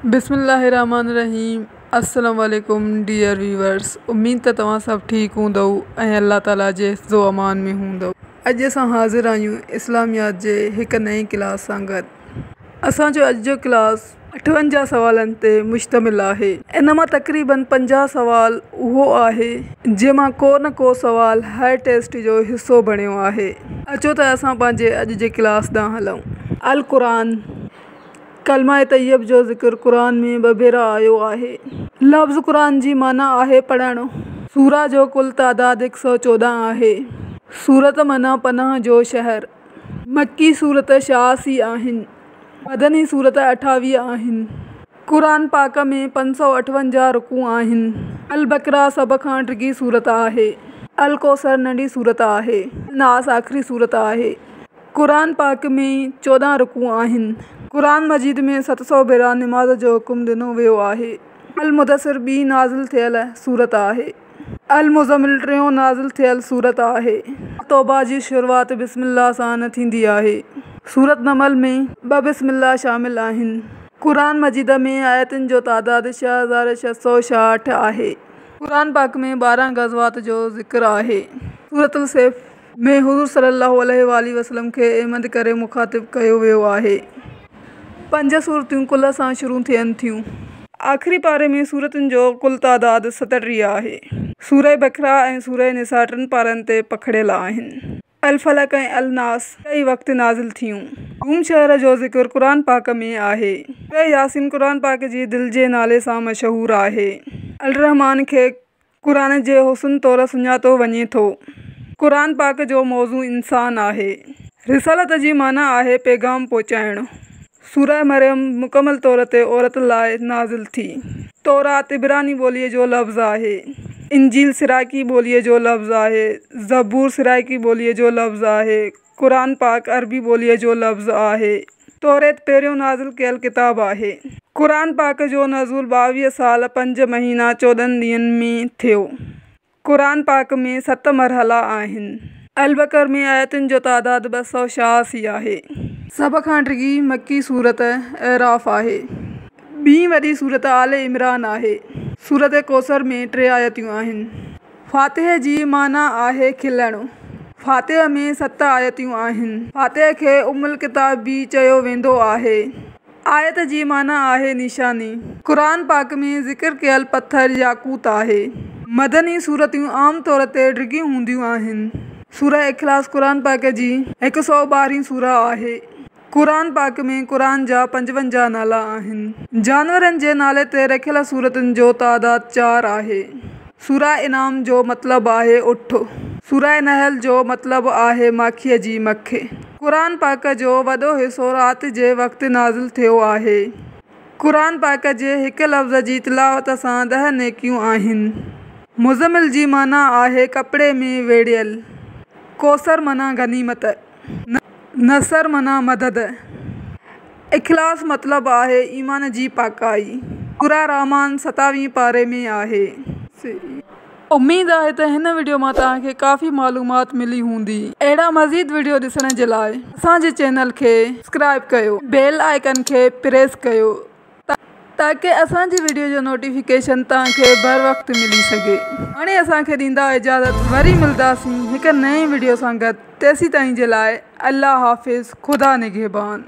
بسم الله الرحمٰن الرحيم السلام عليڪم ڊيئر ويورس اميد ته توهان سڀ ٺيڪ هوندؤ ۽ الله تعالي جي حفظ و امان ۾ هوندؤ اڄ اسان حاضر آهيون اسلاميات جي هڪ نئين ڪلاس سان گڏ اسان جو اڄ جو ڪلاس اٺونجاهه سوالن تي مشتمل آهي ان مان تقريبن پنجاهه سوال اهو آهي جنهن مان ڪو نه ڪو سوال هر ٽيسٽ جو حصو بڻيو آهي اچو ته اسان پنهنجي اڄ جي ڪلاس ڏانهن هلون القرآن. ڪلمه طيب جو ذڪر قرآن ۾ ٻه ڀيرا آيو آهي. لفظ قرآن جي معنيٰ آهي پڙهڻ. سوره جو ڪل تعداد هڪ سؤ چوڏهن آهي. سورة معنيٰ پناهه جو شهر. مڪي سورته ڇياسي آهن. مدني سورته اٺاويهه آهن. قرآن پاڪ ۾ پنج سؤ اٺونجاهه رڪوع آهن. البقره سڀ کان ڊگهي سورته آهي. الڪوثر ننڍي سورته آهي. الناس آخري سورته آهي. قرآن پاڪ ۾ چوڏهن رڪوع آهن. قرآن مجيد ۾ ست سؤ ڀيرا نماز جو حڪم ڏنو ويو آهي. المدثر ٻي نازل ٿيل سورت آهي. المزمل ٽيون نازل ٿيل سورت آهي. توبه جي شروعات بسم الله سان ٿيندي آهي. سورت نمل ۾ ٻه بسم الله شامل آهن. قرآن مجيد ۾ آيتن جو تعداد ڇهه هزار ڇهه سؤ ڇاهٺ آهي. قرآن پاڪ ۾ ٻارهن غزوات جو ذڪر آهي. سورت السيف ۾ حضور صلي الله عليه واٰله وسلم کي احمد ڪري مخاطب ڪيو ويو آهي. پنج سورتون قل سان شروع ٿين ٿيون. آخري پاري ۾ سورتن جو ڪل تعداد ستٽيهه آهي. سوره بقره ۽ سوره نساء ٽن پارن تي پکڙيل آهن. الفلق ۽ الناس ٽئي وقت نازل ٿيون. روم شهر جو ذڪر قرآن پاڪ ۾ آهي. سوره ياسين قرآن پاڪ جي دل جي نالي سان مشهور آهي. الرحمان کي قرآن جي حسن طور سڃاتو وڃي ٿو. قرآن پاڪ جو موضوع انسان آهي. رسالت جي معنيٰ آهي پيغام پهچائڻ. سوره مريم مڪمل طور تي عورت لاء نازل ٿي. تورات عبراني ٻوليء جو لفظ آهي. انجيل سرائڪي ٻوليء جو لفظ آهي. زبور سرائڪي ٻوليء جو لفظ آهي. قرآن پاڪ عربي ٻوليء جو لفظ آهي. توريت پهريون نازل ڪيل ڪتاب آهي. قرآن پاڪ جو نزول ٻاويهه سال پنج مهينا چوڏهن ڏينهن ۾ ٿيو. قرآن پاڪ ۾ ست مرحلا آهن. البقر ۾ آيتن جو تعداد ٻه سؤ ڇهاسي آهي. سڀ کان ڊگهي مڪي سورت اعراف آهي. ٻين وڏي سورت آل عمران آهي. سورت ڪوثر ۾ ٽي آيتون آهن. فاتحه جي معنيٰ آهي کلڻ. فاتحه ۾ ست آيتون آهن. فاتحه کي ام الڪتاب به چيو ويندو آهي. آيت جي معنيٰ آهي نشاني. قرآن پاڪ ۾ ذڪر ڪيل پٿر ياقوت آهي. مدني سورتون عام طور تي ڊگهيون هونديون آهن. سوره اخلاص قرآن پاڪ جي هڪ سؤ ٻارهين سوره آهي. قرآن پاڪ ۾ قرآن جا پنجونجاهه نالا آهن. جانورن جي نالي تي رکيل سورتن جو تعداد چار آهي. سوره انعام جو مطلب آهي اٺ. سوره نحل جو مطلب آهي ماکيء جي مک. قرآن پاڪ جو وڏو حصو رات جي وقت نازل ٿيو آهي. قرآن پاڪ جي هڪ لفظ جي تلاوت سان ڏهه نيڪيون آهن. مزمل جي معنيٰ آهي ڪپڙي ۾ ويڙهيل. ڪوثر معنيٰ غنيمت. نصر معنيٰ مدد. اخلاص مطلب آهي ايمان جي پاڪائي. سوره الرحمان ستاويهين پاري ۾ آهي. اميد آهي ته هن وڊيو مان توهان کي ڪافي معلومات ملي هوندي. اهڙا مزيد وڊيو ڏسڻ جي لاء اسان جي چينل کي سبسڪرائيب ڪيو بيل آئيڪن کي پريس ڪيو. تاڪه اسان جي وڊيو جو نوٽيفڪيشن توهان کي بر وقت ملي سگهي. هاڻي اسان کي ڏيندا اجازت وري ملداسين هڪ نئين وڊيو سان گڏ تيسيتائين جي لاء الله حافظ خدا نگهبان.